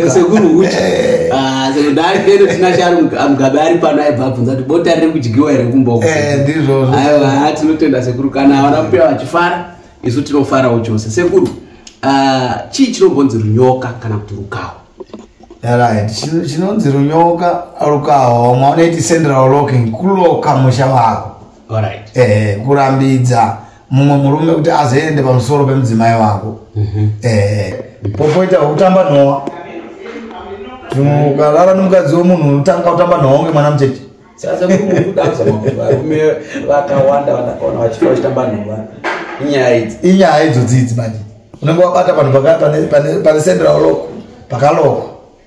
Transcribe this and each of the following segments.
sekuru uchi Ah, sekuru ndaari kendo tina shari mugabe ari pano aibva abvunza kuti bota riri kudyiwa here kumba uko Eh, ndizvozvo aiwa haa, tinotenda sekuru kana havana kupewa vachifara isu tinofarawo chose sekuru ah, chii chinombonzi runyoka kana kuti rukawo right Chino- chinonzi runyoka rukawa vamwe vanoiti central locking kuloka musha wako Alright. eh, kurambidza mumwe murume kuti azoende pamusoro pemudzimai wako eh, popoita kutamba nhowa ukarara nomukadzi wemunhu unotanga kutamba nhowa kunge mwana mucheche sasa kudanza varume vakawanda vanakaona vachifa vachitamba nhova inyaya idzi inyaya idzo dzidzi manje unenge wabata panhu paka- pane- pane- pane central loko pakaloko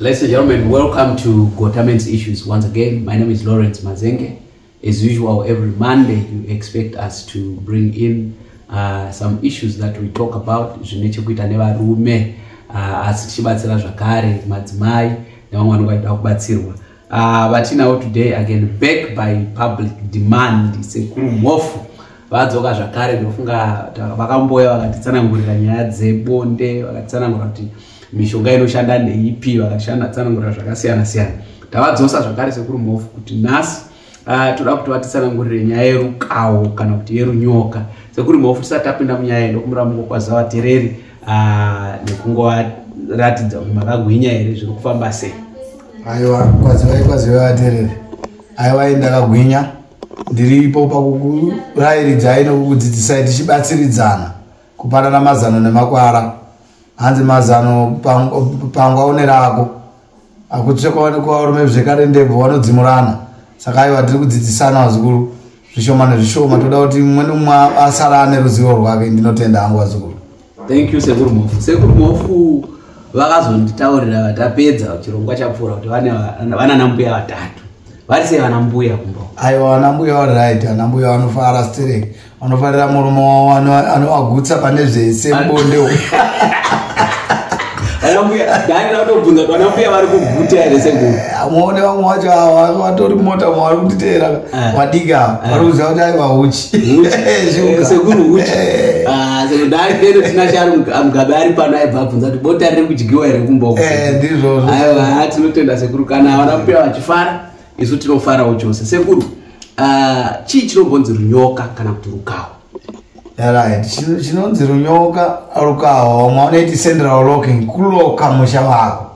Ladies and gentlemen, welcome to Gotamens Issues once again. My name is Lawrence Mazenge. As usual, every Monday you expect us to bring in uh, some issues that we talk about zvine chekuita nevarume uh, asi tichibatsira zvakare madzimai nevamwe vanenge vachida kubatsirwa uh, vatinawo today again back by public demand sekuru mhofu vadzoka zvakare ndofunga vakamboya vakatitsanangurira nyaya dzebonde vakatitsanangura kuti mishonga inoshanda neipi vakashanda tsanangura zvakasiyana siyana tavadzosa zvakare sekuru mhofu kuti nhasi uh, toda kuti vatitsanangurire nyaya yerukawo kana kuti yerunyoka sekuru mhofu tisati tapinda munyaya ndokumira mukokwaza vatereri uh, nekungovaratidza kuti makagwinya here zviri kufamba sei aiwa kwazivai kwazivai vatereri aiwa indakagwinya ndiripo pakukurairidzai nokukudzidzisai tichibatsiridzana kupanana mazano nemakwara hanzi mazano pangwa une rako akutsvekwaonekwarume zvekare ndebvo wanodzimurana saka aiwa tiri kudzidzisana vazukuru zvishoma nezvishoma toda kuti mumwe nomumwe asara ane ruzivo rwake ndinotenda hangu vazukuru thank you sekuru mofu sekuru mofu vakazonditaurira vatapedza chirongwa chapfuura kuti vanana mbuya vatatu vari sei vana mbuya kumba aiwa vana mbuya vari right vana mbuya vanofara stirek vanofarira murume wavo anovagutsa pane zvese bonde muone vamwe wacho vatori mota mavari kutiteera eh. vadiki ava eh. vari kuziva kuti aiva huchisekuru eh, huchiamugabe ari pano aibva abvunza kuti bota riri kudyiwa here kumboku ndizvozvo tinotenda sekuru kana vana kupiwa vachifara isu tinofarawo chose sekuru ah, chii chinombonzi runyoka kana kuti rukawa right chinonzi runyoka rukawa umwe anoiti central locking kuloka musha wako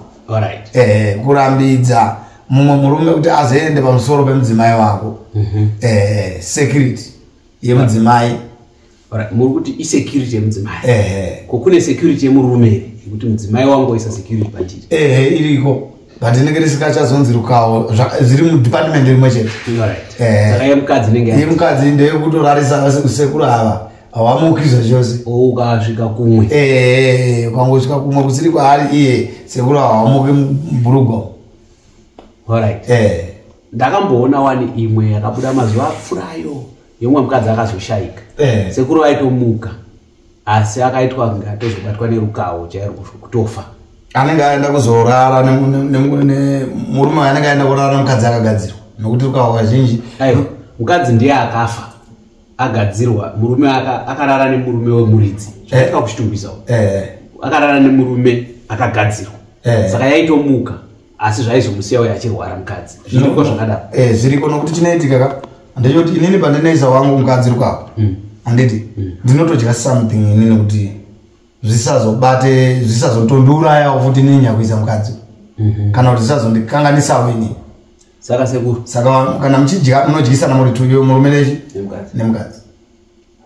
right ehe kurambidza mumwe murume kuti azoende pamusoro pemudzimai wako mm -hmm. ehe security yemudzimai yeah. muri kuti isecurity yemudzimai ko kune security yemurume here yekuti mudzimai wangu waisa security pachiri ehe iriko but inenge risikachazonzirukawo zviri mudepartment rimwe chete saka yemukadzi inenge yemukadzi ndeyekutorarisa sekuru ava hawamuki zvachose oh, ukasvika kumwe ehe ukangosvika kumwe kusiri kwaari iye sekuru ava hawamuki mubhurugwa orit ndakamboona wani imwe yakabuda mazuva apfurayo yemumwe mukadzi akazoshayika eh. sekuru vaitomuka asi akaitwa kunge atozobatwa nerukawo chairo kutofa anenge aenda kuzorara murume anenge aenda kurara mukadzi akagadzirwa nokuti rukawo kazhinji mukadzi ndiye akafa agadzirwa murume akarara nemurume wemuridzi zvaitika eh. kuchitungwisawo eh. akarara nemurume akagadzirwa eh. saka yaitomuka asi zvaizomusiya uye achirwara mukadzi zviriko zvakadaro eh, zviriko nokuti chinoitika ka ndechoti inini pandinoisa wangu mukadzi rikwapo hmm. handiti hmm. ndinotodya something ini nokuti zvisazobate zvisazotondiurayawo futi inini nyakuisa mukadzi mhm. kana kuti zvisazondikanganisawo inini saka sekuru saka kana muchidya munodyisana muri tuyo murume nechi nemukadzi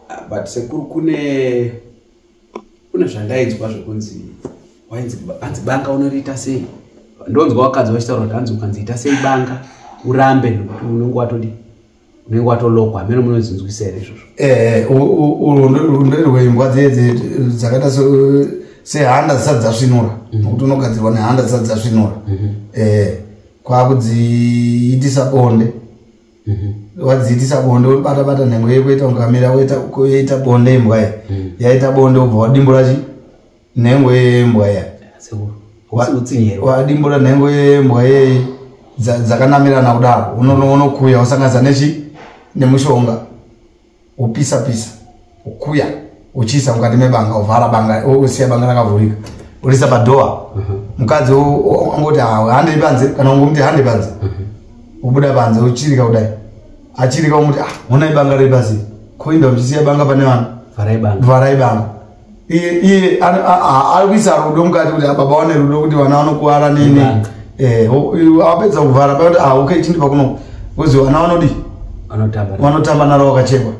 ah, but sekuru kune kune zvandainzwa zvekunzi wainzi hanzi banga unoriita sei ndonzwa wakadzi vachitaura kuti hanzi ukanzi ita sei banga urambe nokuti unenge watodi unenge watolokwa hameno munozinzwisa here izvozvo eh, ndorirwe imbwa dzedze dzakaita sehanda dzisati dzasvinura mhm. nokuti unogadzirwa nehanda dzisati dzasvinura mhm. eh, kwakudziitisa bonde mhm. wadziitisa bonde wobata bata nhengo yeko ita ungamira woita bonde imbwa ya mhm. yaita bonde ubva wadimbura chi nhengo yembwa ya wadimbura nhengo yembwa ye dzakanamirana kudaro unokuya usanganisa nechi nemushonga upisa pisa ukuya uchiisa mukati mebanga uvhara banga usiya banga rakavhurika urisa padhoa mhm. mukadzi angoti hande panze kana ungomuti hande panze mhm. ubuda panze uchirika kudai achirika umuti ah, honai banga repasi koinda uchisiya banga pane vanhu vharai banga iye iye arikuisa rudo mukati kuti baba vane rudo kuti vana vanokuvara nini eh, apedza kuvhara pakuti ah, okay chindipa kuno kozi vana vanodi vanotamba naro wakachekwa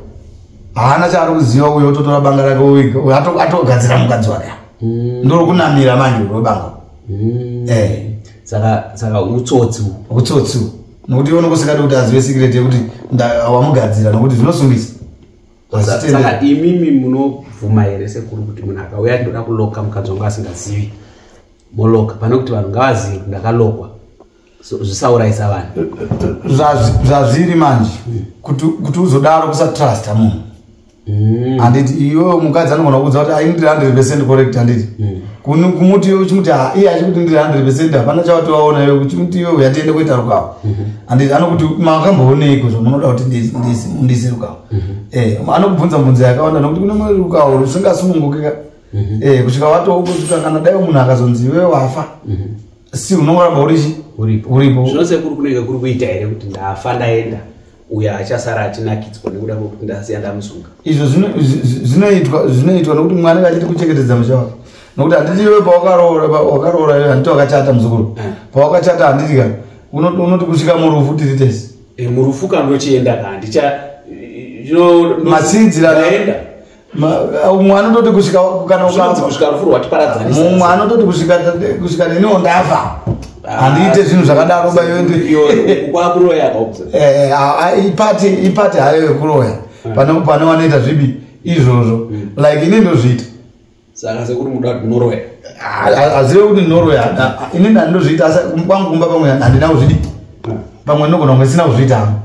haana chaari kuziva uyo ototora banga rake uiga atogadzira mukadzi wake mm. ndori kunamira manje urobanga mm. eh. saka utsotsi utsotsi nokuti ivo nokusikati kuti azive sikireti yekuti wamugadzira nokuti zvinosungisa saka imimi munobvuma here sekuru kuti munhu akauya ndoda kuloka mukadzi wangu asingazivi moloka pane kuti vanhu ngavazivi kuti ndakalokwa zvisaurayisa vanhu zvazviri manje kuti uzodaro kusatrusta munhu mm. handiti iwe mukadzi anogona kuudza kuti aini ndiri hundred percent correct handiti mm. kumuti iwe uchimuti ah, iye achikuti ndiri hundred percent hapana chawatovaona iwe uchimuti iwe uyatiende kuita rukawo mm-hmm. handiti anokuti makambooneiko zvamunoda kuti ndiise rukawo mhm. eh, anokubvunza bvunza yakawanda nokuti kune mweri ukaona usingasununguki ka mhm. eh, kusvika watokuta kana dai munhu akazonzi iwe wafa mhm. si unoramba urichi uripo zvinose kuri kunenge kuri kuita here kuti ndafa ndaenda uyo achasara achinakidzwa nekuda kwekuti ndasiya ndamusunga izvo zvinoitwa zvinoitwa nokuti mwana anenge achiti kuchengetedza musha wake nokuti handiti iwe pawakaroora wakaroora handiti wakachata muzukuru eh. pawakachata handiti ka unoti kusvika murufu tiri tese Eh, murufu ka ndochienda ka ndicha matsiidziraaenda mumwe anototi kusvika kusvika rufu rwatiparadzanisa mumwe anototi kusvika kusvika neniwo ndafa ah, handiite zvinhu zvakadaro bayoipati eh, ah, ipati hayo yekuroya hmm. pane vanoita zvibi izvozvo hmm. like ini ndozviita saka sekuri muda kuti norway azive kuti norway ini ndandozviita asi kwangu kumba pamwe handina kuzvidi pamwe ndinogona kunge sina kuzviita hangu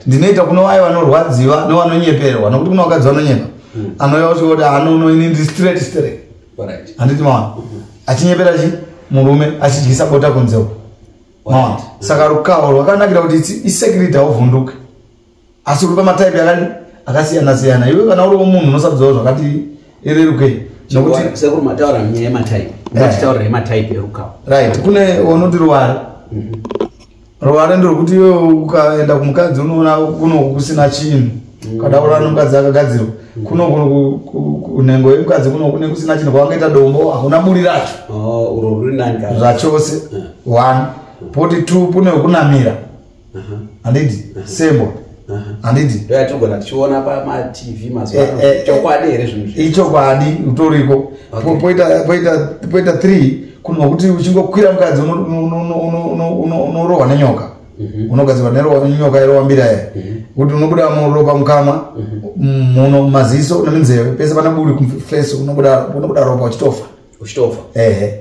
ndinoita kuno vaye vanorwadziwa nevanonyeperwa nokuti kuno vakadzi vanonyepa hmm. anouya kusvika kuti anono ini ndi straight straight handiti mawana hmm. achinyepera chi murume achidyisa bota kunzeu mawana saka rukawo rwakanakira kuti isecurity hauvhunduke asi uri pamataipi akadi akasiyana siyana iwe kana uriwo munhu unosabzawo zvakati irerukei sekuru mataura nyaya yemataipi vatitaura eh. yemataipi erukawo right kune unoti ruware mhm. ruware ndirwekuti iwe ukaenda kumukadzi unoona kuno kusina chinhu mm. kada ura nomukadzi akagadzirwa mm. kuno kunhengo yemukadzi kuno kune kusina chinhu kwawangaita dombo hakuna buri racho oh, zvachose eh. one poti two kune wekunamira handiti sebo handiti ndoyatinogona tichiona pamatv eh, mazuva eh, eh. chokwadi here zvinhu ichokwadi utoriko poita three kunwa kuti uchingokwira mukadzi unorohwa nenyoka mhm. unogadzirwa nenyoka irowa mbira ye mhm. kuti unobuda muropa mukamwa mhm. muno mumaziso neminzeve pese panaburi kumfeso unobuda ropa uchitofa uchitofa ehe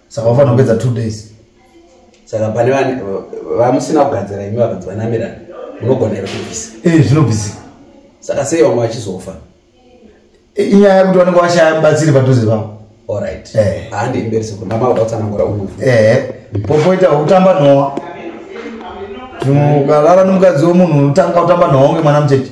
saka vafanira kupedza two days saka pane vamusina kugadzira imi vakanzi vanamirana munogona here kubvisa ee eh, zvinobvisika saka sei vamwe vachizofa eh, inyaya yekuti vanenge vashaya mubatsiri padhuze vavo orit eh. handi mberi sekuru mama vada kutsanangura unofa ee popoita kutamba nowa ukalala nomukadzi womunhu unotanga kutamba nowa unge mwana mucheche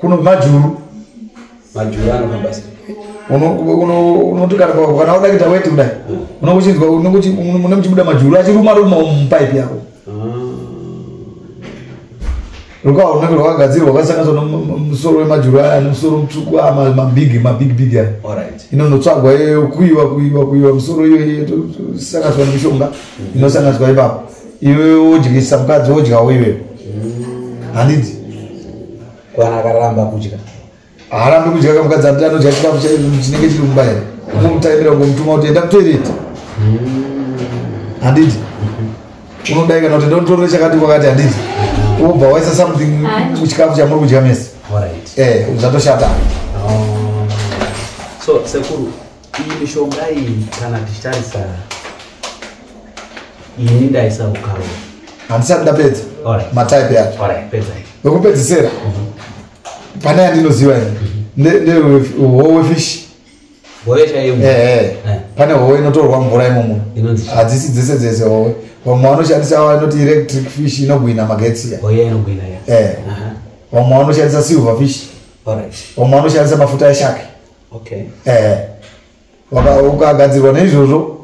kuno majuru majuru anofamba sei unoti kana wada kuita weti kudai hmm. unokuchinzwa une muchibuda majuru achiruma ruma mupaipi yako rukawa runenge rwakagadzirwa rwakasanganiswa nomusoro wemajuru aya nemusoro mutsvuku aya mabig mabig big aya inonotsvagwa iyoyo kuiwa kuiwa kuiwa musoro iyoyo sanganiswa nemishonga inosanganiswa ipapo iwe wodyisa mukadzi wodyawo iwewe handiti kwana akaramba kudya haarambi kudya kamukadzi ati anodya chikafu chinenge chiri kumba here kumutaimira kumutuma kuti enda kutoireti handiti unodai kana kuti ndotorore chakati kwakati handiti wobva waisa something muchikafu chamuri kudya mese eh, uzatoshata oh. so sekuru iyi mishonga iyi kana tichitarisa ini ndaisa ukaro handisati ndapedza mataipe acho wekupedzisira mhm. pane yandinoziva ini ndewefish pane howe inotorwa mvura imomo hadzisi dzese dzese howe vamwe vanoshandisa vanoti electric fish inogwina magetsi vamwe vanoshandisa silver fish vamwe vanoshandisa mafuta eshake okay eh ukagadzirwa neizvozvo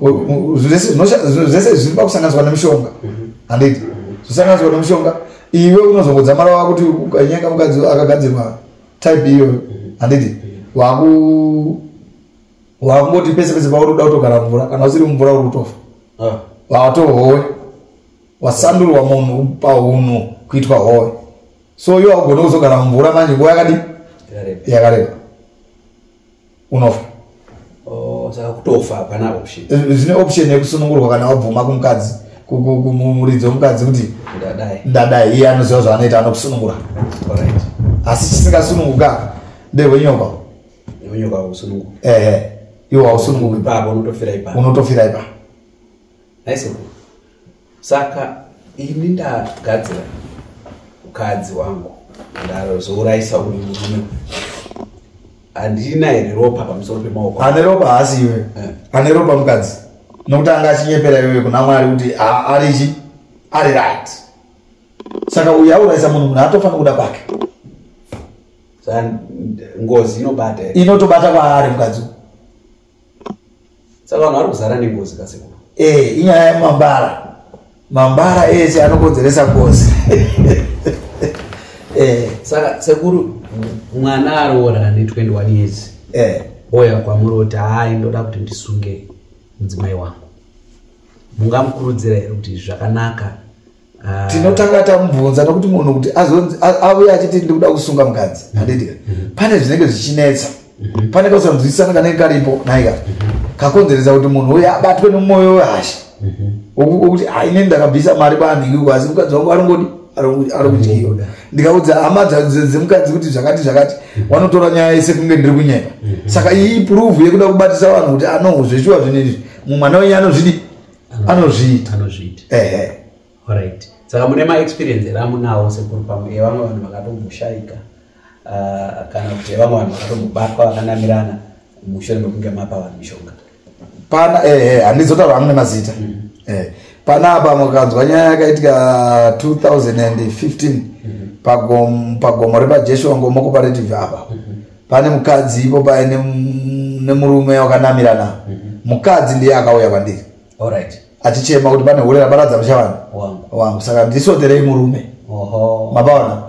zvese zviri pakusanganiswa nemushonga mhm. handiti mhm. zvisanganiswa nemushonga iwe unozongodzamara wakuti ukanyaka mukadzi akagadzirwa type iyoyo mhm. handiti waku wakungoti pese pese pauri kuda kutogara mvura kana usiri mumvura uri kutofa ah. watohowe wasandurwa munhu pahunhu kuitwa howe so iwe haugone kuzogara mumvura manje nguva yakadi yakareba unofa oh, saka kutofa hapana option eh, eh, zvine option yekusunungurwa kana wabvuma kumukadzi kumuridzi wemukadzi kuti ndadai iye anoziva zvaanoita anokusunungura asi chisingasununguka ndehwenyokwa ehe iwo hausununguki unotofira ipa saka ini ndagadzira mukadzi wangu ndazourayisa uyu murume handina here ropa pamusoro pemaoko ane ropa haasi iwe eh. ane ropa mukadzi nokuti anga achinyepera iwe kuna mwari kuti ari chi ari right saka uyu aurayisa munhu munhu atofanira kuda kwake ngozi inobata inotobata kwaari mukadzi saka vanhu vari kuzara nengozi kasekuru eh inyaya yemambara mambara ese anokonzeresa ngozi eh. saka sekuru mwana aroora ane 21 years eh. oya kwamuri kuti hayi ndoda kuti ndisunge mudzimai wangu mungamukurudzira here kuti zvakanaka Ah. tinotanga tamubvunza nokuti munhu kuti azonzi auye achiti ndikuda kusunga mukadzi mm-hmm. handitika mm-hmm. pane zvinenge zvichinetsa mm-hmm. pane kausanzwisisana kanenge karipo naika kakonzeresa kuti munhu uye abatwe nemwoyo wehasha wokuti aine ndakabvisa mari paanhingi asi mukadzi wangu arongodi ari kudyiwa ndikaudza hama dzemukadzi kuti zvakati zvakati wanotora nyaya yese kunge ndiri kunyepa saka iyi pruvu yekuda kubatisa vanhu kuti anohuzveshuwa zvinezvi mumwana wenyu anozvidi anozviita anozviita ehe alright saka mune maexperience here amunawo sekuru pamwe evamwe vanhu vakatomboshayika ah, kana kuti evamwe vanhu vakatombobatwa vakanamirana mushure mekunge mapa vanhu mishonga pana ehe handizotaura amune mazita mm. eh, pana apa mukanzwa nyaya yakaitika 2015 mm-hmm. pagomo repajeshuwa ngomokoparative apa mm-hmm. pane mukadzi ipo paye nemurume wakanamirana mhm. mukadzi ndiye akauya kwandiri achichema kuti pane hure raparadza musha vanhu wangu saka ndisoterei murume mabaona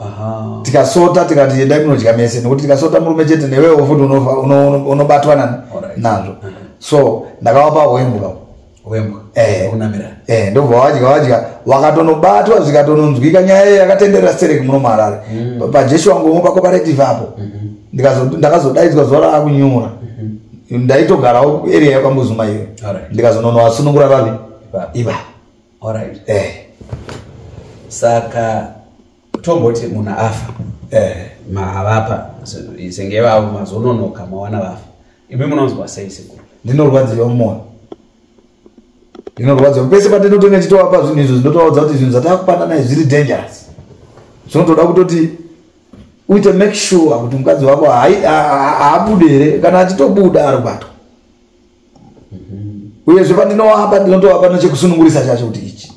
tikasota tikati endai munodya mese nekuti tikasota murume chete newewo futi unobatwa nazvo mhm. so ndakawapa hwembuka eh, ndobva wadya wadya wakatonobatwa zvikatononzwika nyaya iyo yakatenderera stereki muno muharare mm. pajeshi wangu omwe pakoparetive apo mm-hmm. ndakazodaidzwa zuva raakunyura mm-hmm. ndaitogarawo area yakwambuzuma iyo ndikazononowasunungura vavi iva eh. saka tomboti munhu afa eh. maavapa senge vavo mazononoka mawana vafa imi munonzwa sei sekuru ndinorwadziwa mumwoyo ndinorwadziwa pese patinotonge ndichitovapa zvinhu izvo zvinotovaudza kuti zvinhu zvatava kupanana izvi zviri dangerous zvinotoda kutoti uite make sure kuti mukadzi wako haabude here kana achitobuda ari kubatwa uyezve pandinoapa ndinotoapa nechekusunungurisa chacho kuti ichi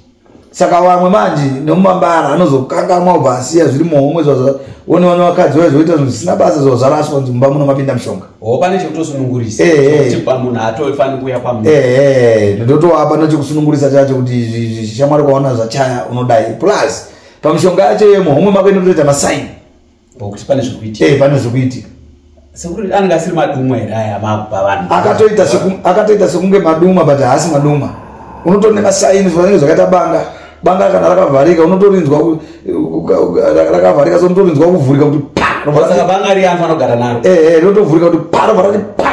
saka vamwe manje nemumambara anozokangamwa ubva asiya zviri muhomwe zvazvaone vane vakadzi vaye zvoita zvinhu zvisina basa zvavo zvaraswa nzi mumba muno mapinda mushonga ho pane chekutosunungurisa eh, eh. kuti pamunhu haatofanira kuuya pamunhu eh, ndotoapa nechekusunungurisa chacho kuti izvi shamwari kwaona zvachaya unodai plus pamushonga yacho yemuhomwe mako inotoita masaini ngokuti pane zviri kuitika eh, pane zviri kuitika sekuri anenge asiri madumwa here aya maakupa vanhu akatoita akatoita sekunge madumwa but haasi madumwa unotori nemasaini zvanenge zvakaita banga banga kana rakavharika unotorinzwa rakavharika so unotorinzwa kuvhurika kuti paaka banga riyanhu anogara naro ehe eh, eh, rinotovhurika kuti pa rovharati pa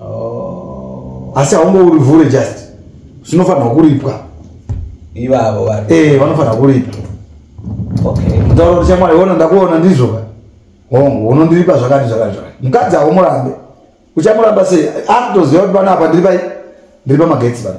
oh. asi haumbourivhure just zvinofanirwa kuripwa ivavo vari eh vanofanira kuripa okay mutauro kuti chamwari wona ndakuona ndizvo ka hongu unondiripa zvakati zvakati zvakati mukadzi haumurambe uchamuramba sei akutoziva kuti pano apa ndiri pai ndiri pamagetsi pano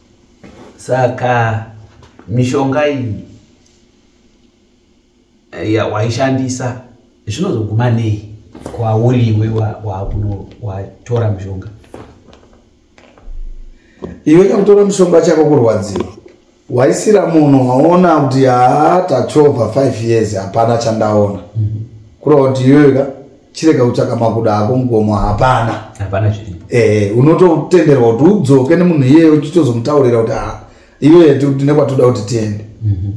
saka mishonga iyi eh, waishandisa zvinozoguma nei kwauri iwe wakuno watora mushonga iwe kakutora mushonga chako kurwadziwa waisira munhu waona kuti haa tachova 5 years hapana chandaona mm -hmm. kureva kuti iweweka chirega kutsvaka makuda ako mugomo hapana hapana zviri e, unototenderwa kuti udzoke nemunhu iyeye uchitozomutaurira kuti ha iyoye tiri kuti nekwatoda kuti tiende mhm.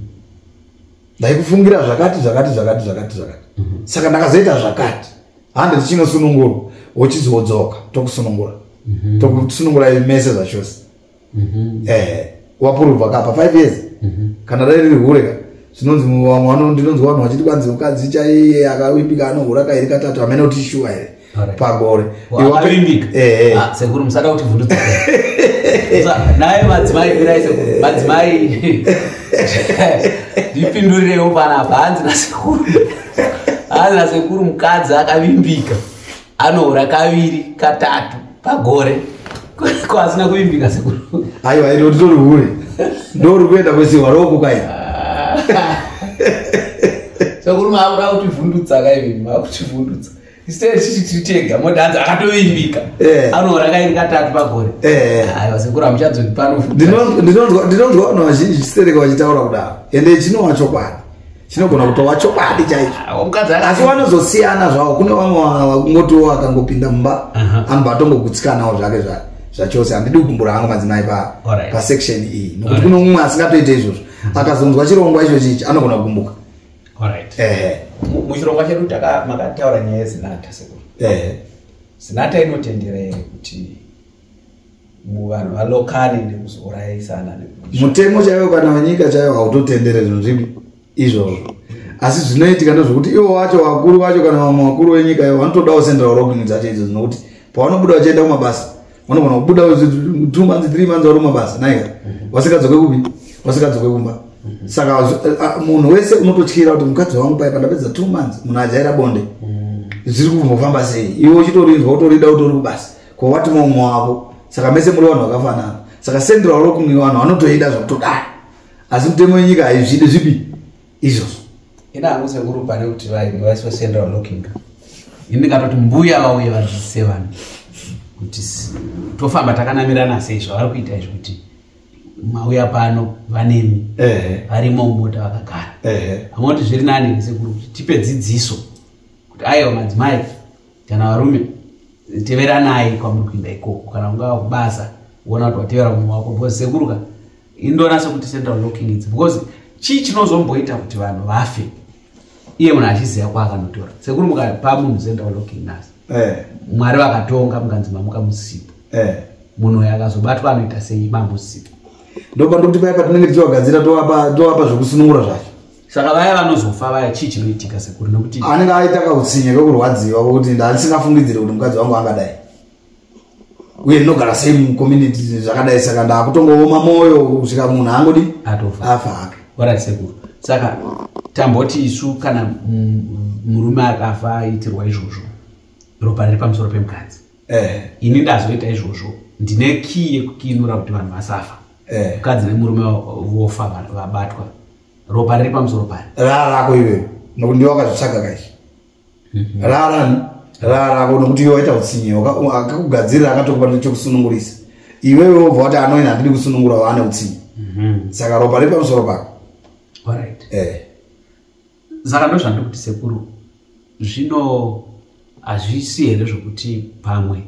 ndaikufungira zvakati zvakati zvakati zvakati zvakati mhm. saka ndakazoita zvakati hande tichinosunungurwa wochizodzoka tokusunungura mhm. tokusunungura mese zvachose mhm. eh wapuruva kapa 5 years mhm. kana dai riri hure ka zvinonzi vamwe vano ndinonzwa vanhu vachiti kwanzi mukadzi chaiye akavimbika anohura kairi katatu hamene kuti shuwa here pagore eh, ah, sekuru musada kuti vhundudza naye madzimai irai sekuru eh. madzimai ndipindurirewo panapa hanzi nasekuru hanzi nasekuru mukadzi akavimbika anoora kaviri katatu pagore ko asina kuvimbika sekuru aiwa ino nditori hure ndori kuenda kwesiwa roko kai sekuru maakuda kutivhundutsa kaivi maakutivhundutsa instead chichi tiri tega modanza akatovimbika eh. anoora kairi katatu pagore eh. aiwa sekuru hamuchadzoti pano ndinonzwa vanhu vazhinji chisereka vachitaura kudaro ende chinowa chokwadi chinogona kutova chokwadi chaicho ah, asi vanozosiyana zvavo kune vamwe vakungotiwo akangopinda mumba anobva atongokutsikanawo zvake zvake zvachose handidi kugumbura hangu madzimai pa right. pasection iyi nokuti right. kuno umwe asingatoite izvozvo mm. akazonzwa chirongwa icho chichi anogona kugumbuka right. ehe muchirongwa chedu makataura nyaya yezinata sekuru ehe zinata inotendera here kuti vanhu valokane nekuzourayisana mutemo chaiwo kana wenyika chaiwo hautotendere zvinhu zvipi izvozvo asi zvinoitika ndozvokuti ivo wacho vakuru vacho kana vamwe vakuru venyika ivo vanotodawo central rocking dzacho idzo dzinokuti pavanobuda vachienda kumabasa vanogona kubuda two months three months vari kumabasa naika mhm. vasikadzoke kupi vasikadzoke kumba mhm. saka munhu wese unototyira kuti mukadzi wangu pai pandapedza two months munhu ajaira bonde mhm. zviri kumbofamba sei iwe uchitorinzwa utorida utori kubasa ko wati mumwe wavo saka mese muri vanhu vakafanana saka sendera waro kumwe vanhu vanotoida zvakutodai asi mutemo yenyika haizvidi zvipi izvozvo ini hangu sekuru pane kuti vainge vaiswa sendera walokinga ini ndingatoti mbuya vauye vazvise vanhu kuti tofamba takanamirana sei zvavari kuita izvi kuti mauya pano vanemi varimo mumota vakagara vamoti zviri nani sekuru kuti tipe dzidziso kuti aiwa madzimai kana varume teveranai kwamuri kuinda ikoko kana ungava kubasa uona kuti watevera mumwe wako because sekuruka indoona sekuti central locking idzi because chii chinozomboita kuti vanhu vafe iye munhu achiziva kwaakanotora sekuru mukapa munhu central locking nas eh. mwari vakatonga mukanzi mamuka musipo eh. munhu uyo akazobatwa anoita sei mamusipo ndopandikuti paya patinenge tichiwagadzira tovapa zvekusunungura zvacho saka vaya vanozofa vaya chii chinoitika sekuru nekuti anenge aita kautsinye kekurwadziwa kuti ndandisingafungidzire kuti mukadzi wangu angadai uye ndinogara sei mucommunity zvakadai saka ndakutongooma mwoyo kusvika munhu angodi afa hake orit sekuru saka tamboti isu kana murume akafa aitirwa izvozvo ropa riri pamusoro pemukadzi eh. ini ndazoita izvozvo ndine kii yekukiinura kuti vanhu vasafa eh. mukadzi nemurume vofa vabatwa ropa riri pamusoro pari rara rako iwe nokuti ndiwe wakazvitsvaga kaishi mhm. rara rara rako nokuti iwe waita utsinye akakugadzirira akatokupa nechokusunungurisa iwewe wobva wati anoina handidi kusunungura waane utsinye mhm. saka ropa riri pamusoro pako eh. saka ndo zvandiri kuti sekuru zvino hazvisi here zvokuti pamwe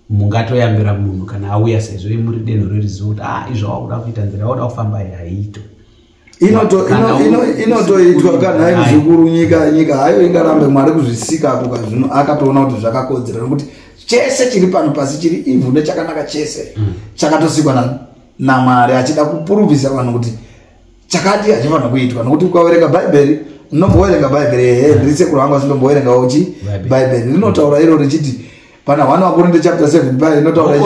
mungatoyambira munhu kana auya sezvo imuri denho reruzivo kuti ah izvo wakuda kuita nzira yakuda kufamba iyi haiito inotoitwa kana hai muzukuru nyika nyika hayo ingarambe mwari kuzvisika ako kazvino akatoona kuti zvakakodzera nokuti chese chiri pano pasi chiri ivhu nechakanaka chese mm. chakatosikwa namwari achida kupuruvisa vanhu kuti chakati hachifanira kuitwa nokuti ukaverenga bhaibheri unomboverenga bhaibheri ehe ndiri sekuru vangu asi ndomboverenga uchi bhaibheri rinotaura iro richiti pana one wakorinde chapter seven bai rinotaura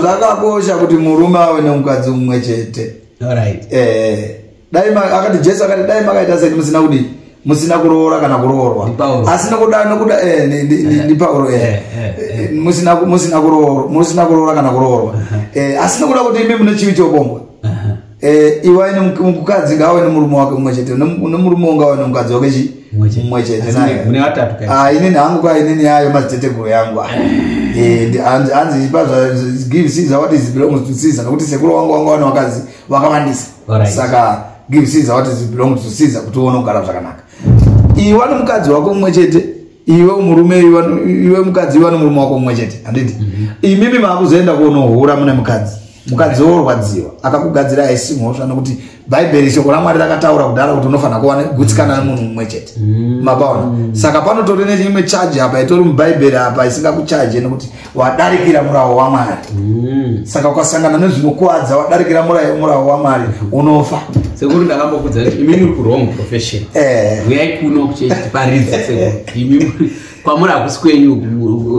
zvakakosha kuti murume ave nemukadzi umwe chete eh. dai ma- akati jesu akati dai makaita seni musina kudii musina kuroora kana kuroorwa Ndi Pauro. asi nokuda nokuda eh, ni- ni- ni- ni pauro eh. Eh, eh, Eh, musina ku- musina kuroora musina kuroora kana kuroorwa Eh, asi nokuda kuti imi mune chivi chobombwa Aha. Eh, iwai nemuk- mukadzi ngaawe nemurume wake mumwe chete Nemu- nemurume wo ngaawe nemukadzi wake chi Mumwe chete. mumwe chete Asi naye. mune- mune vatatu kai? Ah, inini hangu ka inini yayo madziteteguru yangu ah. Eh, ndi- hanzi hanzi ipa zva- give caesar what is belongs to caesar nokuti sekuru wangu wanga wane vakadzi vakawandisa Alright. saka give caesar what is belong to caesar kuti uone kugara zvakanaka iwe ano mukadzi wako mumwe chete iwe murume iwe ano- iwe mukadzi iwe ano murume wako mumwe chete handiti imimi maakuzoenda kunohura mune mukadzi mukadzi worwadziwa akakugadzira haisi mhosva nokuti bhaibheri shoko ramwari rakataura kudhara kuti unofanira kuva negutsikana nemunhu mumwe chete mapaona saka panotori nechimwe chaji apa itori mubhaibheri apa isingakuchaje nokuti wadarikira murawo wamwari mm. saka ukasangana nezvinokwadza wadarikira murawo wamwari unofa sekuru ndakambokudza kuti imimi uri kurong profession eh. uyai kuno kuchetiparidza sekuru imimi kwamuri hakusi kwenyu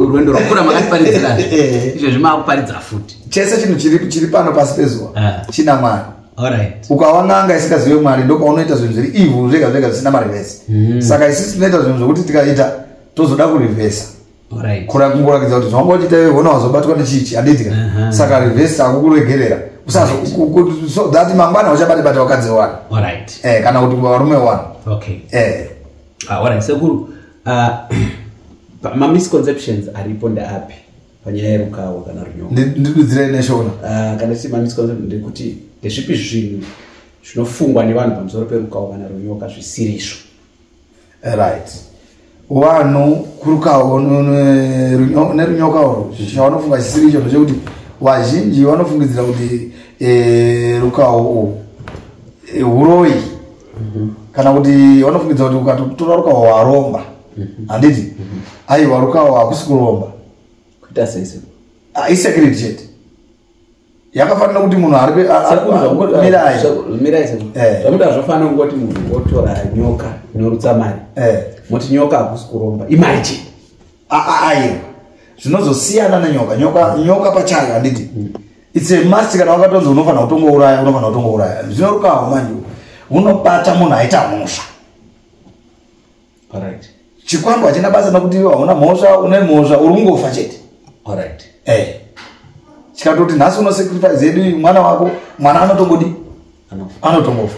rwendo rwakura makatiparidzira eh. izvezvi maakuparidza futi chese chinhu chiri pano pasi pezuva ah. china mwari ukawa n'anga isingazive mwari ndokaunoita zvinhu zviri ivhu zvega zvega zvisina marivhesi mm. saka isisi tinoita zvinhu zvokuti tikaita tozoda kurivhesa Alright. kura kungorakidza kuti zvanga uchiita iwe hona wazobatwa nechichi handiti ka Aha. saka reverse akukuregerera usazo Right. ku- ku- so that mangwana uchabate bate vakadzi wani Alright. eh kana kuti varume wani Okay. eh Ah, alright. Sekuru, ah, pa- ma misconceptions aripo ndeapi panyaya yerukawo kana runyonga? ndi- ndidudzire neshona Ah, kana tichiti ma misconceptions ndekuti ndezvipi zvinhu zvinofungwa nevanhu pamusoro perukawo kana runyoka zvisirizvo? right wanhu kurukawo nerunyoka urwo chavanofunga chisiri icho ndechekuti vazhinji vanofungidzira kuti eh, rukawo urwu eh, uroyi mhm. kana kuti vanofungidzira kuti ukatotora rukawo waromba mhm. handiti mhm. aiwa rukawo hakusi kuromba kuita seise ah, isecret chete yakafanira kuti munhu ari mirai eh. zvamuda zvofanira kungoti munhu otora nyoka inorutsa mari eh. moti nyoka hakusi kuromba imari chii aaiwa zvinozosiyana nenyoka nyoka nyoka pachayo handiti mm. its a must kana wakatonzi unofanira kutongouraya unofanira kutongouraya zvinorukawo manje unobata munhu aita mhosva Alright. Chikwambo hachina basa nokuti hauna mhosva, une mhosva, uri kungofa chete. Alright. Eh. Chikatoti nhasi uno sacrifice yedu mwana wako, mwana anotongodi? Anotongofa.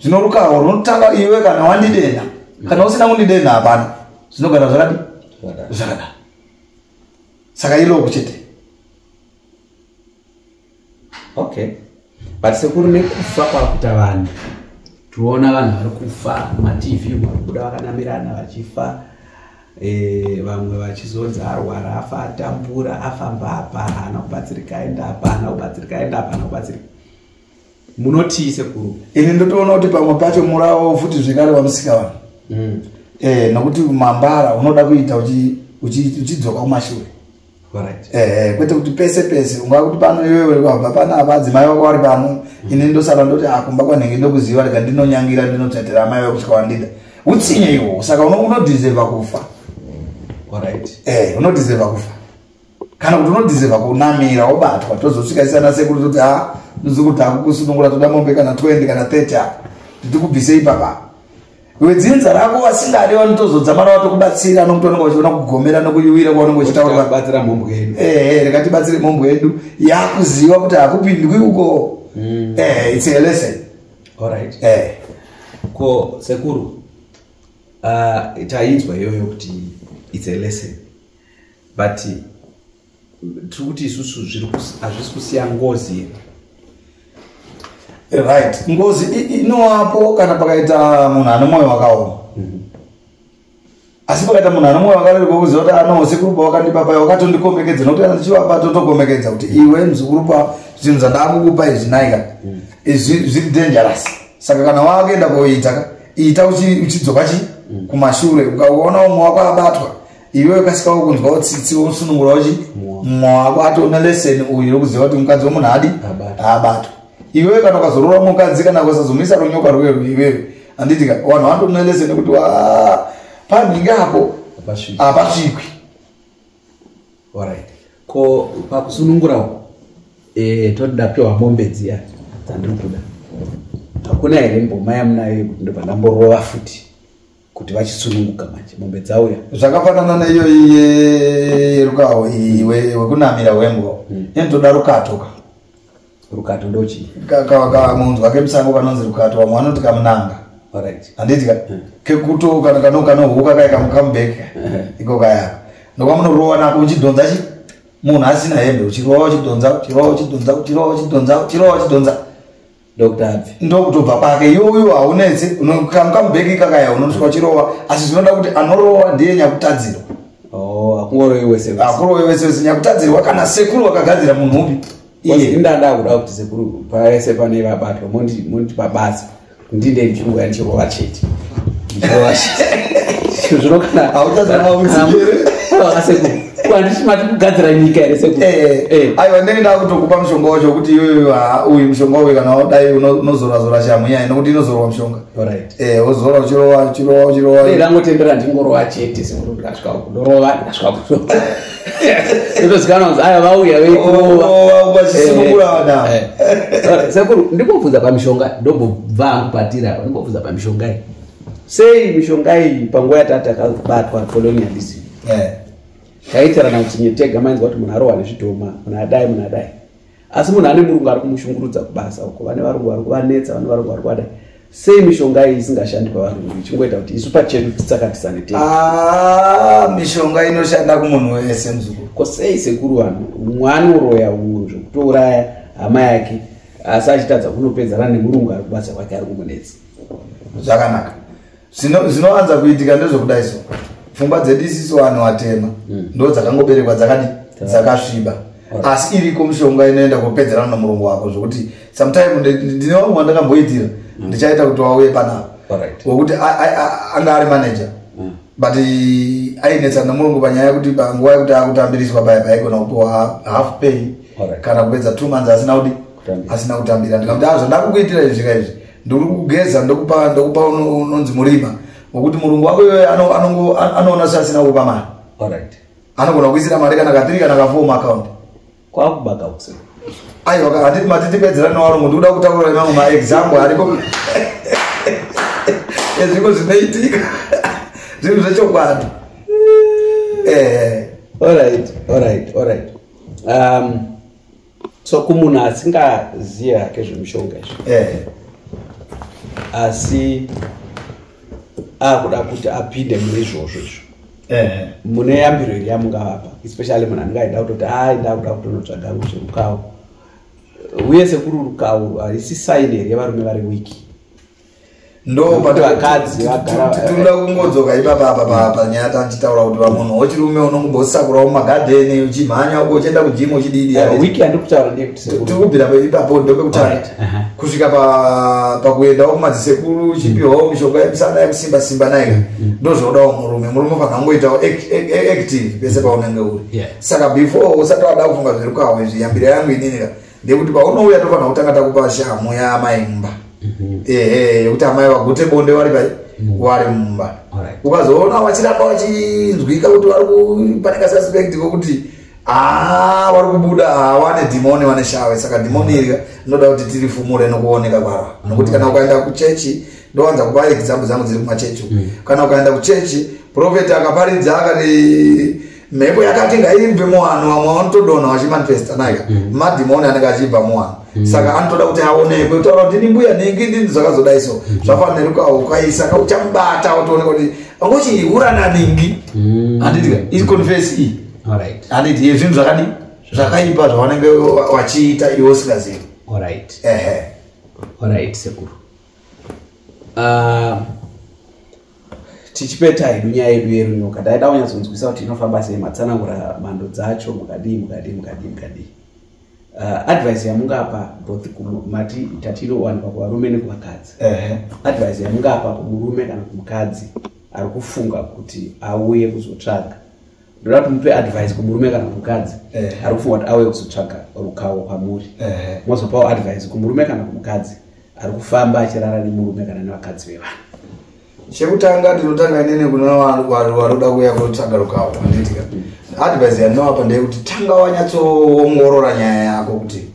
Zvino rukaho runotanga iwe kana wandidena. Kana usina kundidena hapana. Zvinogara zvakadi? Zvakada. Saka ilo kuchete. okay but sekuru nekufa kwakuita vanhu tinoona vanhu vari kufa matv varikubuda vakanamirana vachifa eh, vamwe vachizonzi arwara afa atambura afamba apa haana kubatsirika aenda apa haana kubatsirika aenda apa haana kubatsirika munotii sekuru ini ndotoona kuti pamwe pacho murawo futi zvekare vamusika vanhu mm. eh, nokuti mambara unoda kuita uchidzoka kumashure Eh, kwete kuti pese pese ungava kuti pano iwe uri kwabva pano apa adzimai vako vari pano mm. ini ndosara ndoti akumba ah, kwanhenge ndokuziva rega ndinonyangira ndinotsatira amai vako kusvika wandida utsinye iwo saka unodhizeva kufa eh, unodhizeva kufa kana kuti unodhizeva kunamira wobatwa tozosvika isana sekuru toti a ah, ndizikuti akukusunungura toda mombe kana 20 kana 30 apa titi kubvise ipapa wedzinza rako wasingade vanotozodzamara vatokubatsira anokutooneka vachiona kugomera nokuyuwira kwaunenge uchitaurabatsira mhombwe yedu ehe rekatibatsire mhombwe yedu yakuziva kuti hakupindwi uko hmm. ehe its a lesson allright ehe ko sekuru ah, tainzwa iyoyo kuti its a lesson but tiri kuti isusu hazvisi kusiya ngozi here eh, right ngozi inowapo kana pakaita munhu ane mwoyo wakaoma mhm. asi pakaita munhu ane mwoyo wakarerwa kuziva kuti anoo sekuru pawakandipa paye wakatondikombekedza nokuti kana tichivapa totokombekedza kuti iwe muzukuru pa zvinhu zvandakukupa izvi naika mhm. izvi zviri dangerous saka kana wakuenda koita ita uchidzoka chi mhm. kumashure ukaona umwe wako abatwa iwe ukasika wokunzwa utsitsi wosunungura uchi mumwe wako atoona leseni uyu yokuziva kuti mukadzi womunhu adi haabatwa iwewe kana ukazorora mukadzi kana ukasazomisa runyoka rwero iwewe handiti ka vanhu vatoona leseni kuti panhinge apo hapasvikwi orit ko pakusunungura uko e, toda piwa mombe dziya dzandiri kuda hakuna here mboma yamunayo yekuti ndobva ndamborova futi kuti vachisununguka manje mombe dzauya zvakafanana neiyoyi yerukawo iyi wekunamira wembwa mm. inotoda rukato ka rukato ndochii kamunhu wake musango kanonzi rukato vamwe vanoti kamunanga handiti ka mm. kekuto kana kano kanohuka kai kamukamubek mm. iko kaya ndokamunorova nako uchidhonza chi munhu asina hembe uchirova uchidhonza uchirova uchidhonza uchirova uchidhonza uchirova uchidhonza ndokutadzi ndokutobva kwake iyoyo haunetsi kamukambeki kakaya unonoswa chirova asi zvinoda kuti anorova ndiye nyakutadzirwa oh, akurove wese akurove wese wese nyakutadzirwa kana sekuru wakagadzira munhu upi ndada kuda kuti sekuru pavese pane vabatwa monditi pabasa ndinde ndichirova ndichirova chete ndichirova chete zvinokanaa handisi mati kugadzira nyika here sekuru Eh, eh. Eh. aiwa ndenge ndakutokupa mushonga wacho kuti iyoyo haa uyu mushonga uyu kana wadai uno- unozorazora shamhu nyaya nokuti inozorwa mushonga Alright. Eh, wozora uchirowa uchirowa uchirowa Dai ndangotendera ndingorova chete sekuru ndikasvika uku ndorova ndikasvika kurova ndotozikanwa kunzi aya vauya Oh, vekurova oh, vachisimukura vana. Eh, eh. Alright, sekuru ndimbobvunza pamishonga ndombobva hangu patiri apa ndimbobvunza pamishonga iyi sei mishonga iyi panguva yatati akabatwa colonialism eh. taitirana kuti nyetega mainzwa kuti munhu arohwa nezvidhoma munhu adai munhu adai asi munhu ane murungu ari kumushungurudza kubasa uko vane varungu vari kuvanetsa vane varungu vari kuvadai sei mishonga iyi isingashandi pavarungu ichingoita kuti isu pachedu tisakatisane te ah, mishonga inoshanda kumunhu wese muzukuru ko sei sekuru vanhu mwana uroya unhu zvekutouraya hama yake asi achitadza kunopedzana nemurungu ari kubasa kwake ari kumunetsa zvakanaka zvinowanza kuitika ndezvekudai so pfungwa dzedu isiso vanhu vatema mm. ndo dzakangoberekwa dzakadi dzakasviba asi iriko mishonga inoenda kopedzerana nomurungu wako zvokuti sometime ndine vamwe vandakamboitira mm. ndichaita kuti wauye panavo wekuti anga ari manager mm. but ainetsana nomurungu panyaya yekuti panguva yekuti akutambiriswa paya paigona kupiwa half pay kana kupedza two months asina kudi asina kutambira ndikamuti azvandakukuitira izvi zvika izvi ndiri kugeza ndokupa ndokupa uno- unonzi murima ngokuti murungu wako iyoyo ano- anongo- an- anoona seasina kukupa mari Alright. anogona kuisira mari kana katiri kana kafour maakaunti Kwakuba kausi. aiwa ka- handiti matitipedzera newarungu ndikuda kutaura mamwe maexample ariko ezviko zvinoitika zvinhu zvechokwadi Eh. Alright, alright, alright. Um, so kumunhu asingazive hake zvemushonga izvo eh. asi akuda kuti apinde mune izvozvo izvo eh. mune yambiro iri yamungavapa especially munhu anenge aida kutoti ai ndakuda kutonotsvaga ngo zverukawo uye sekuri rukawo haisi saini here yevarume vari wiki ndopatinda kungodzoka ipapa apa panyaya tandichitaura kuti vamunhu wechirume unongobosakurawo mumagadheni uchimhanya uko uchienda kujimu uchidiiatikubvira eh, ipapo ndopekutanga kusvika pakuendawo kumadzisekuru uchipiwawo mm. mishonga yekusana yekusimba simba nayo mm, mm. ndozvaudawo murume murume ufanira kungoitawo active pese paunenge uri saka before usati wada kufunga zviri kwawe zviyambiro yangu inini ka ndekuti paunouya tofanira kutanga takupa shamhu yaamai mumba mhm. ehe yekuti amai vagute bonde vari pai mhm. wari mumba ukazoona vachiramba vachinzwika kuti vari kupaneka suspect kokuti aa ah, vari kubuda ah, wane dhimoni wane shave saka dhimoni iri rinoda kuti tiri fumure nokuoneka kwaro nokuti kana ukaenda kuchechi ndowanza kupa example dzangu dziri kumachechi mm. kana ukaenda kuchechi profeti akaparidza akati mhepo yakati ngaibve muvanhu vamwe vanotodonha vachimanifesta naika mm. madhimoni anenge achibva muvanhu mm. saka anotoda kuti aonekwe kutaura kuti ndini mbuya nhingi ndini zvakazodai so mm. zvafanira ukaukaisa ka uchamubata utooneka kuti angochihura nanhingi handitika ii confess iyi handiti ye zvinhu zvakadi zvakaipa zvavanenge vachiita iwe usingazivi ehe sekuru uh, tichipeta hedu nyaya yedu yerunyoka taida kunyatsonzwisa kuti inofamba sei matsanangura mhando dzacho mukadii mukadii mukadii mukadii uh, advice yamungapa both mati tati inowanikwa kuvarume nekuvakadzi uh -huh. advice yamungapa kumurume kana kumukadzi ari kufunga kuti auye kuzotsvaga ndoda kuti mupe advice kumurume kana kumukadzi uh -huh. ari kufunga kuti auye kuzotsvaga rukawo kwamuri uh -huh. mozopawo advice kumurume kana kumukadzi uh -huh. ari kufamba achirara nemurume kana nevakadzi vevanhu chekutanga ndinotanga inene kuna waroda kuya kunotsvaga rukavo anditika advise yandinoapa ndeyekuti tanga wanyatsoongorora nyaya yako kuti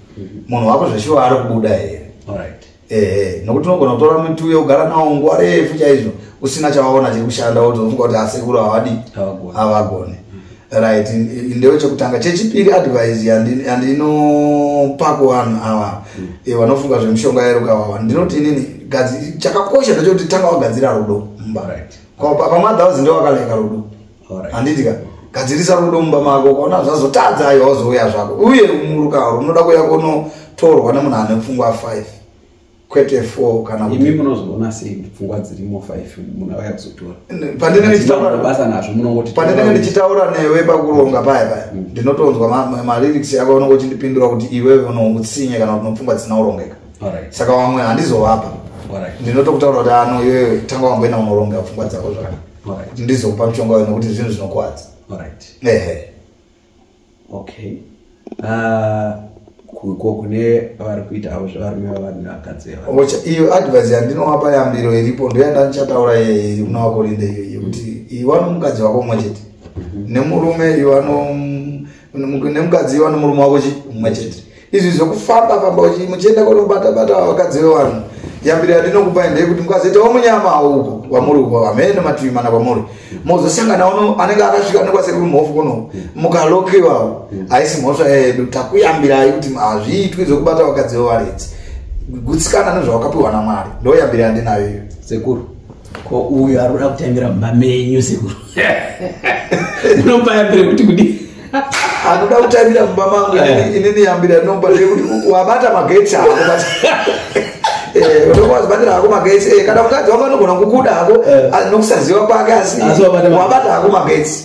munhu wako zveshuwa ari kubuda here ehe nokuti unogona kutora muti uye kugara nawo nguva refu chaizvo usina chawaona chiri kushanda wotofunga kuti asekuru havadi havagone right ndewe chekutanga chechipiri advise yandinopa kuvanhu ava mm. eh, vanofunga zvemushonga yeruka wawa ndinoti inini chakakosha ndechekuti tanga wagadzira rudo mumba pamwe adhauzi ndewe wakaleka rudo handiti ka gadzirisa rudo mumba mako ukaona zvazotadza ayo wazouya zvako uye muruka unoda kuya kunotorwa nemunhu ane pfungwa five kwete four kana imi munozoona sei pfungwa dzirimo five munhu auya kuzotora pandinendichitaurabasa nazvo munongoti pandinenge ndichitaura newe pakuronga paya paya mm. ndinotonzwa malyrics yako unongo uchindipindura kuti iwewe unoutsinye kana kuti nopfungwa dzisina kurongeka saka vamwe handizovapa ndinotokutaura kuti ano iwewe tanga wamboenda unoronga pfungwa dzako zvakanaka ndizokupa muchonga wena kuti zvinhu zvinokwadza ehe okay uh, ko kune vari kuita avo zvevarume vavanhu vakadzi ocha iyo advise yandinovapa yambiro iripo ndoyandandichataura yeye muna wako linde iyo yekuti iwe anomukadzi wako umwe chete mhm. nemurume iwe anom nemukadzi iwe anomurume wako umwe chete izvi zvekufamba famba muchienda kunobata bata vakadzi vevanhu yambiro yandinokupai ndeyekuti mukazoitawo munyama hauko kwamuri uko hamene mativi mana kwamuri mozosangana uno anenge akasvika nekwasekuru mhofu kuno mukalokiwawo haisi mhosva yedu takuyambirai kuti hazviitwi zvekubata vakadzi vevaredzi gutsikana nezvawakapiwa namwari ndoyambiro yandinayo iyo sekuru ko uyu ari kuda kutambira mumba menyu sekuru unombaimbire kuti kudi anoda kutambira mumba mangu eh. ini niyambira nomba nekuti wabata magetsi ako eh, unokuwazibatira hako magetsi eh, kana mukadzi wako anogona kukuda hako nokusaziva kwake asi wabata hako magetsi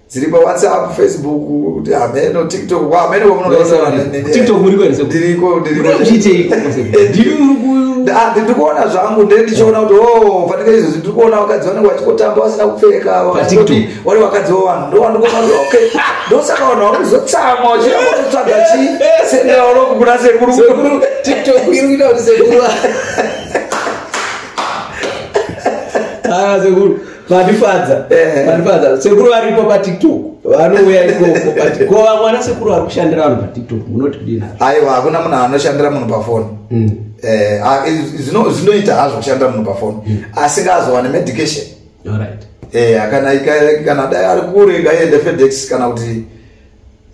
dziri pawhatsapp facebook kuti hameno tiktok kwa hameno kwamunotiktok muri kwenze ndiriko ndirikuona zvangu nde ndichiona kuti o fanika izvozvi ndiri kuona vakadzi vanenge vachikotamba vasina kupfeka vati vari vakadzi vavanhu ndowandikuona kuti ok ndosaka vanhu vakuzotsamwa vachiraakutotsvaga chi sendeaoloku kuna sekuru tiktok iri kuita kuti sekuru haa sekuru vandifadza eh. vandifadza sekuru varipo patiktok vanouya ikoko but ko vamwana sekuru vari kushandira vanhu patiktok munoti kudini aiwa hakuna munhu anoshandira munhu pafoni hmm. eh, ah, zvinoita hazvo kushandira munhu pafoni hmm. asi ngaazowane medication eh, kana dai ari kure ngaiende fedex kana kuti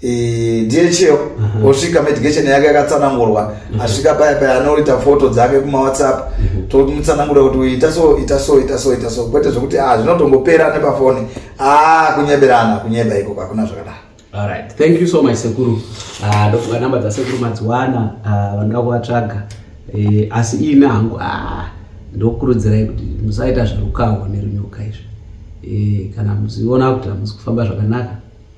dhl mhm. osvika medication yake yakatsanangurwa mhm. asvika paya paya anoita foto dzake kumawhatsapp mhm. tomutsanangura kuti uyu ita so ita so ita so ita so kwete zvekuti a ah, zvinotongopera nepafoni a ah, kunyeberana kunyeba ikoko hakuna zvakadaro alright thank you so much sekuru ah, ndofunga namba dzasekuru madziwana vanoda kuvatsvaga eh, asi ina hangu ndokurudzirai kuti musaita zverukawo nerunyoka izvi eh, kana muziona kuti hamusi kufamba zvakanaka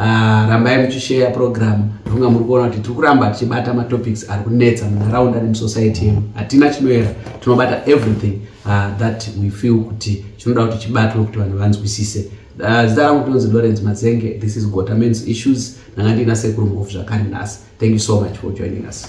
Ah, rambai muchisheya program ndofunga muri kuona kuti tiri kuramba tichibata matopics ari kunetsa munharaunda nemusociety yenu hatina chinoera tinobata everything ah, that we feel kuti chinoda kuti chibatwe kuti vanhu vanzwisise ah, zita rangu tinonzi lawrence mazenge this is gota mans issues ndanga ndiina sekuru muhofu zvakare nhasi thank you so much for joining us